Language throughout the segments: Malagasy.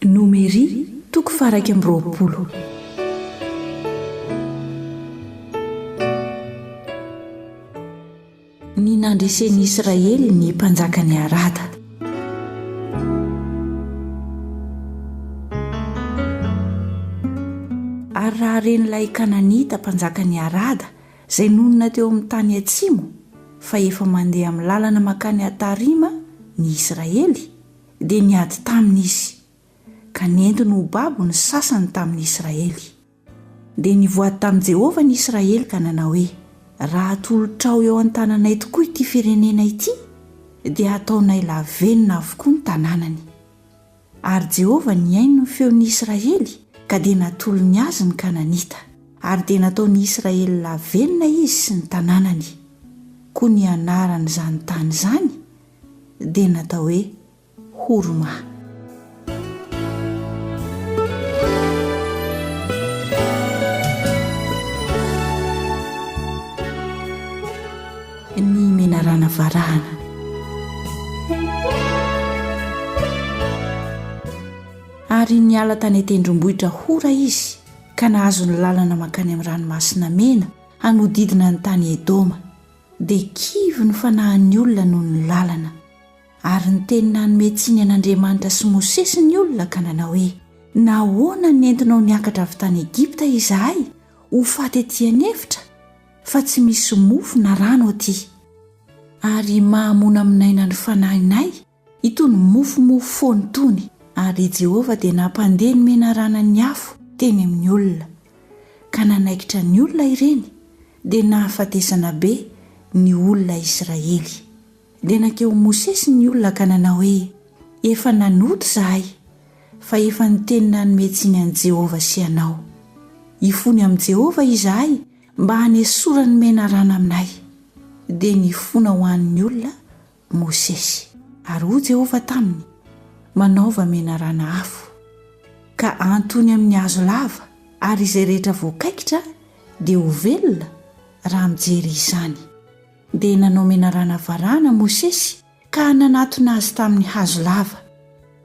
Nomery, toko faha-iraika amby roapolo. Ny nandresen'i Israely ny mpanjakan'i Arada. Ary raha ren'ilay Kananita mpanjakan'i Arada, izay nonina teo amin'ny tany atsimo, fa efa mandeha amin'ny lalana mankany Atarima ny Israely, dia niady taminy izy, ka nentiny ho babo ny sasany tamin'ny Israely. Dia nivoady tamin'i Jehovah ny Israely ka nanao hoe, Raha atolotrao eo an-tananay tokoa ity firenena ity, dia hataonay lavenona avokoa ny tanànany. Ary Jehovah nihaino ny feon'ny Israely, ka dia natolony azy ny Kananita. Ary dia nataon'ny Israely lavenona izy sy ny tanànany. Koa ny anaran'izany tany izany dia natao hoe hurma. menarana varahana ary niala tany an-tendrombohitra hora izy ka nahazo ny lalana mankany amin'ny ranomasina mena hanodidina ny tany edoma dia kivy ny fanahin'ny olona noho ny lalana. Ary niteny nanome tsiny an'Andriamanitra sy Mosesy ny olona ka nanao hoe, Nahoana nentinao niakatra avy tany Egypta izahay ho faty ety an'efitra, fa tsy misy mofo na rano aty? Ary mahamonamonaina ny fanahinay Itony mofomofo foana itony, ary i Jehovah dia nampandeha ny menarana ny afo teny amin'ny olona, ka nanaikitra ny olona ireny, dia nahafatesana be ny olona Israely. Dia nankeo Mosesy ny olona ka nanao hoe, Efa nanota izahay, fa efa niteny nanome tsiny an'i Jehovah sy anao. Hifony amin'i Jehovah izahay mba hanesorany ny menarana aminay. Dia nifona ho an'ny olona Mosesy. Ary hoy Jehovah taminy, Manaova menarana afo, ka antony amin'ny hazo lava, ary izay rehetra voakaikitra dia ho velona raha mijery izany. Dia nanao menarana varahana Mosesy ka nanatona azy tamin'ny hazo lava.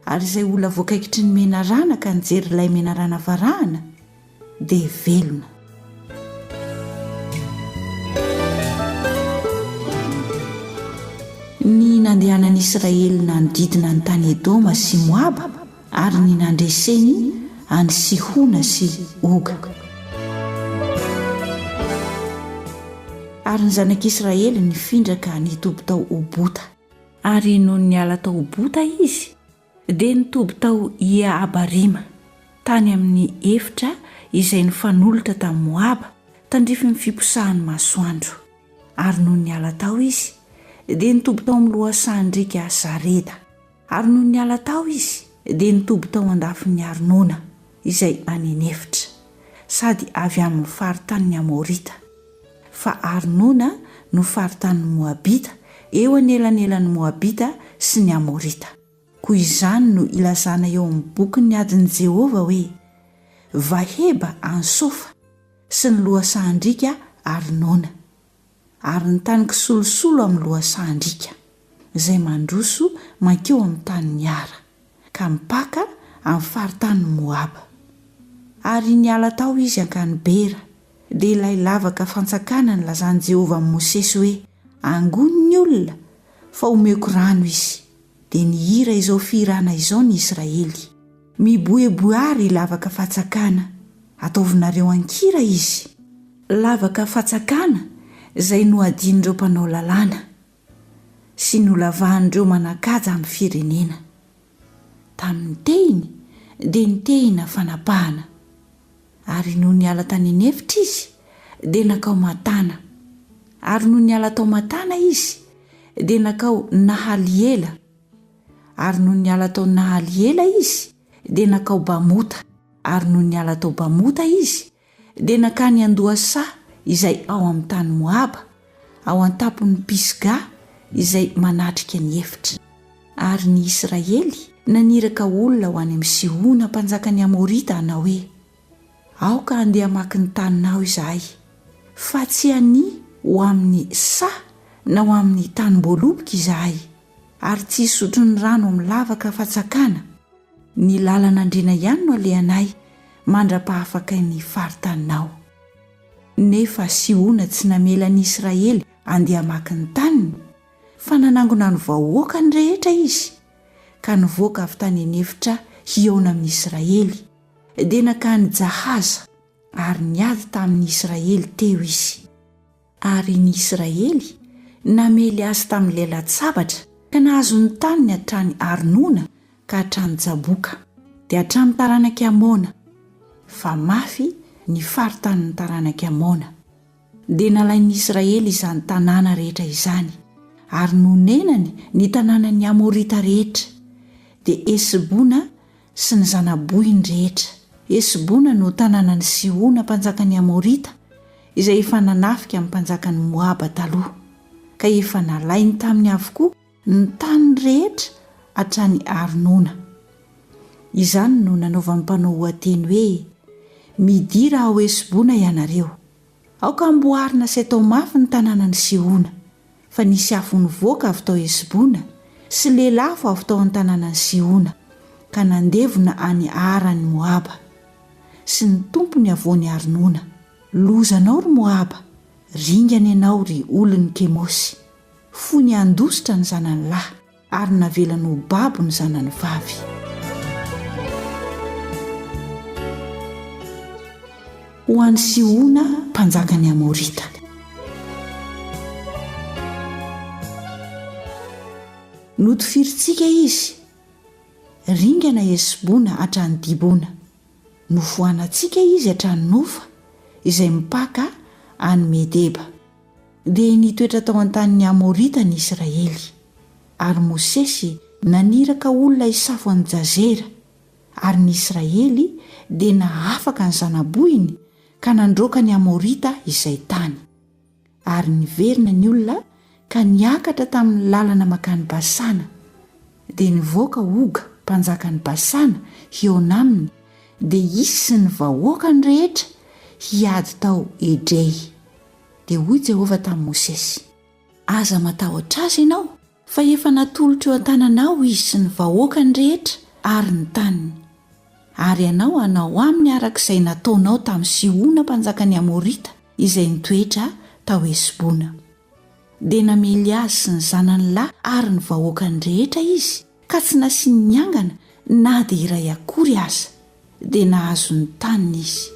Ary izay olona voakaikitry ny menarana ka nijery ilay menarana varahana, dia velona. Ny nandehanan'ny Israely nanodidina ny tany Edoma sy Moaba ary ny nandreseny an'i Sihona sy Oga. Ary ny zanak'Israely nifindra ka nitoby tao Obota. Ary nony niala tao Obota izy, Dia nitoby tao Ie-Abarima, tany amin'ny efitra izay nifanolotra tamin'i Moaba, tandrifin'ny fiposahan'ny masoandro. Ary nony niala tao izy, dia nitoby tao amin'ny lohasahan-driaka Zareda. Ary nony niala tao izy, dia nitoby tao an-dafin'i Arnona. izay any an'efitra, sady avy amin'ny faritanin'ny Amorita, fa Arnona no faritanin'ny Moabita, eo anelanelan'ny Moabita sy ny Amorita. Koa izany no ilazana eo amin'ny Bokin'ny adin'i Jehovah hoe, Vaheba any Sofa, sy ny lohasahan-driaka Arnona. Ary ny tany kisolosolo amin'ny lohasahan-driaka, izay mandroso mankeo amin'ny tanin'i Ara, ka mipaka amin'ny faritanin'i Moaba. Ary niala tao izy hankany Bera, dia ilay lavaka fantsakana nilazan'i Jehovah amin'i Mosesy hoe, Angono ny olona, fa omeko rano izy. dia nihira izao fihirana izao ny Israely. Miboeboe àry lavaka fatsakana, ataovinareo an-kira izy. Lavaka fatsakana izay nohadin'ireo mpanao lalàna, sy nolavahan'ireo manan-kaja amin'ny firenena. Tamin'ny tehiny dia ny tehina fanapahana. Ary nony niala tany an'efitra izy, dia nankao Matana. Ary nony niala tao Matana izy, dia nankao Nahaliela. Ary nony niala tao Nahaliela izy, dia nankao Bamota. Ary nony niala tao Bamota izy, dia nankany Andohasa izay ao amin'ny tany Moaba. ao an-tampon'ny Pisga izay manatrika ny efitra. Ary ny Israely naniraka olona ho any amin'i Sihona mpanjakan'ny Amorita hanao hoe, Aoka handeha hamaky ny taninao izahay, fa tsy hania ho amin'ny saha na ho amin'ny tanim-boaloboka izahay, ary tsy hisotro ny rano amin'ny lavaka afa-tsakana, ny lalan'Andriana ihany no alehanay mandra-pahafakain'ny faritaninao. Nefa Sihona tsy namela ny Israely handeha hamaky ny taniny, fa nanangona ny vahoakany rehetra izy, ka nivoaka avy tany an'efitra hihaona amin'ny Israely. Dia nankany Jahaza, ary niady tamin'ny Israely teo izy. Ary ny Israely namely azy tamin'ilay latsabatra, ka nahazo ny taniny hatrany Arnona ka hatrany Jaboka, dia hatrany taranak'i Amona, fa mafy ny faritanin'ny taranak'i Amona. Dia nalain'ny Israely izany tanàna rehetra izany, ary nonenany ny tanànan'ny Amorita rehetra, dia Hesbona sy ny zana-bohiny rehetra. Hesbona no tanànan'i Sihona mpanjakan'ny Amorita, izay efa nanafika amin'ny mpanjakan'i Moaba taloha, ka efa nalainy taminy avokoa, ny tany rehetra hatrany Arnona. Izany no nanaovan'ny mpanao oha-teny hoe, Midira ao Hesbona ianareo. Aoka hamboarina sy atao mafy ny tanànan'i Sihona, fa nisy afo nivoaka avy tao Hesbona sy lelafo avy tao an-tanànan'i Sihona, ka nandevona any Ara an'i Moaba. Sy ny Tompo ny havoan'i Arnona. Lozanao ry Moaba, ringana ianao ry olon'i Kemosy. Fony handositra ny zanany lahy, ary navelany ho babo ny zanany vavy. Ho an'i Sihona, mpanjakan'ny Amorita. Notifirintsika izy, ringana Hesbona hatrany Dibona. Nofoanantsika izy hatrany Nofa, izay mipaka any Medeba. Dia nitoetra tao an-tanin'ny Amorita ny Israely, ary Mosesy naniraka olona hisafo an'i Jazera, ary ny Israely dia nahafaka ny zana-bohiny ka nandroaka ny Amorita izay tany. Ary niverina ny olona ka niakatra tamin'ny lalana mankany Basana. Dia nivoaka Oga mpanjakan'i Basana hihaona aminy, dia izy sy ny vahoakany rehetra hiady tao Edrey. Dia hoy Jehovah tamin'i Mosesy, Aza matahotra azy ianao, fa efa natolotro eo an-tananao izy sy ny vahoakany rehetra ary ny taniny. Ary ianao hanao aminy araka izay nataonao tamin'i Sihona mpanjakan'ny Amorita izay nitoetra tao Hesbona. Dia namely azy sy ny zanany lahy ary ny vahoakany rehetra izy, ka tsy nasiany niangana na dia iray akory aza, dia nahazo ny taniny izy.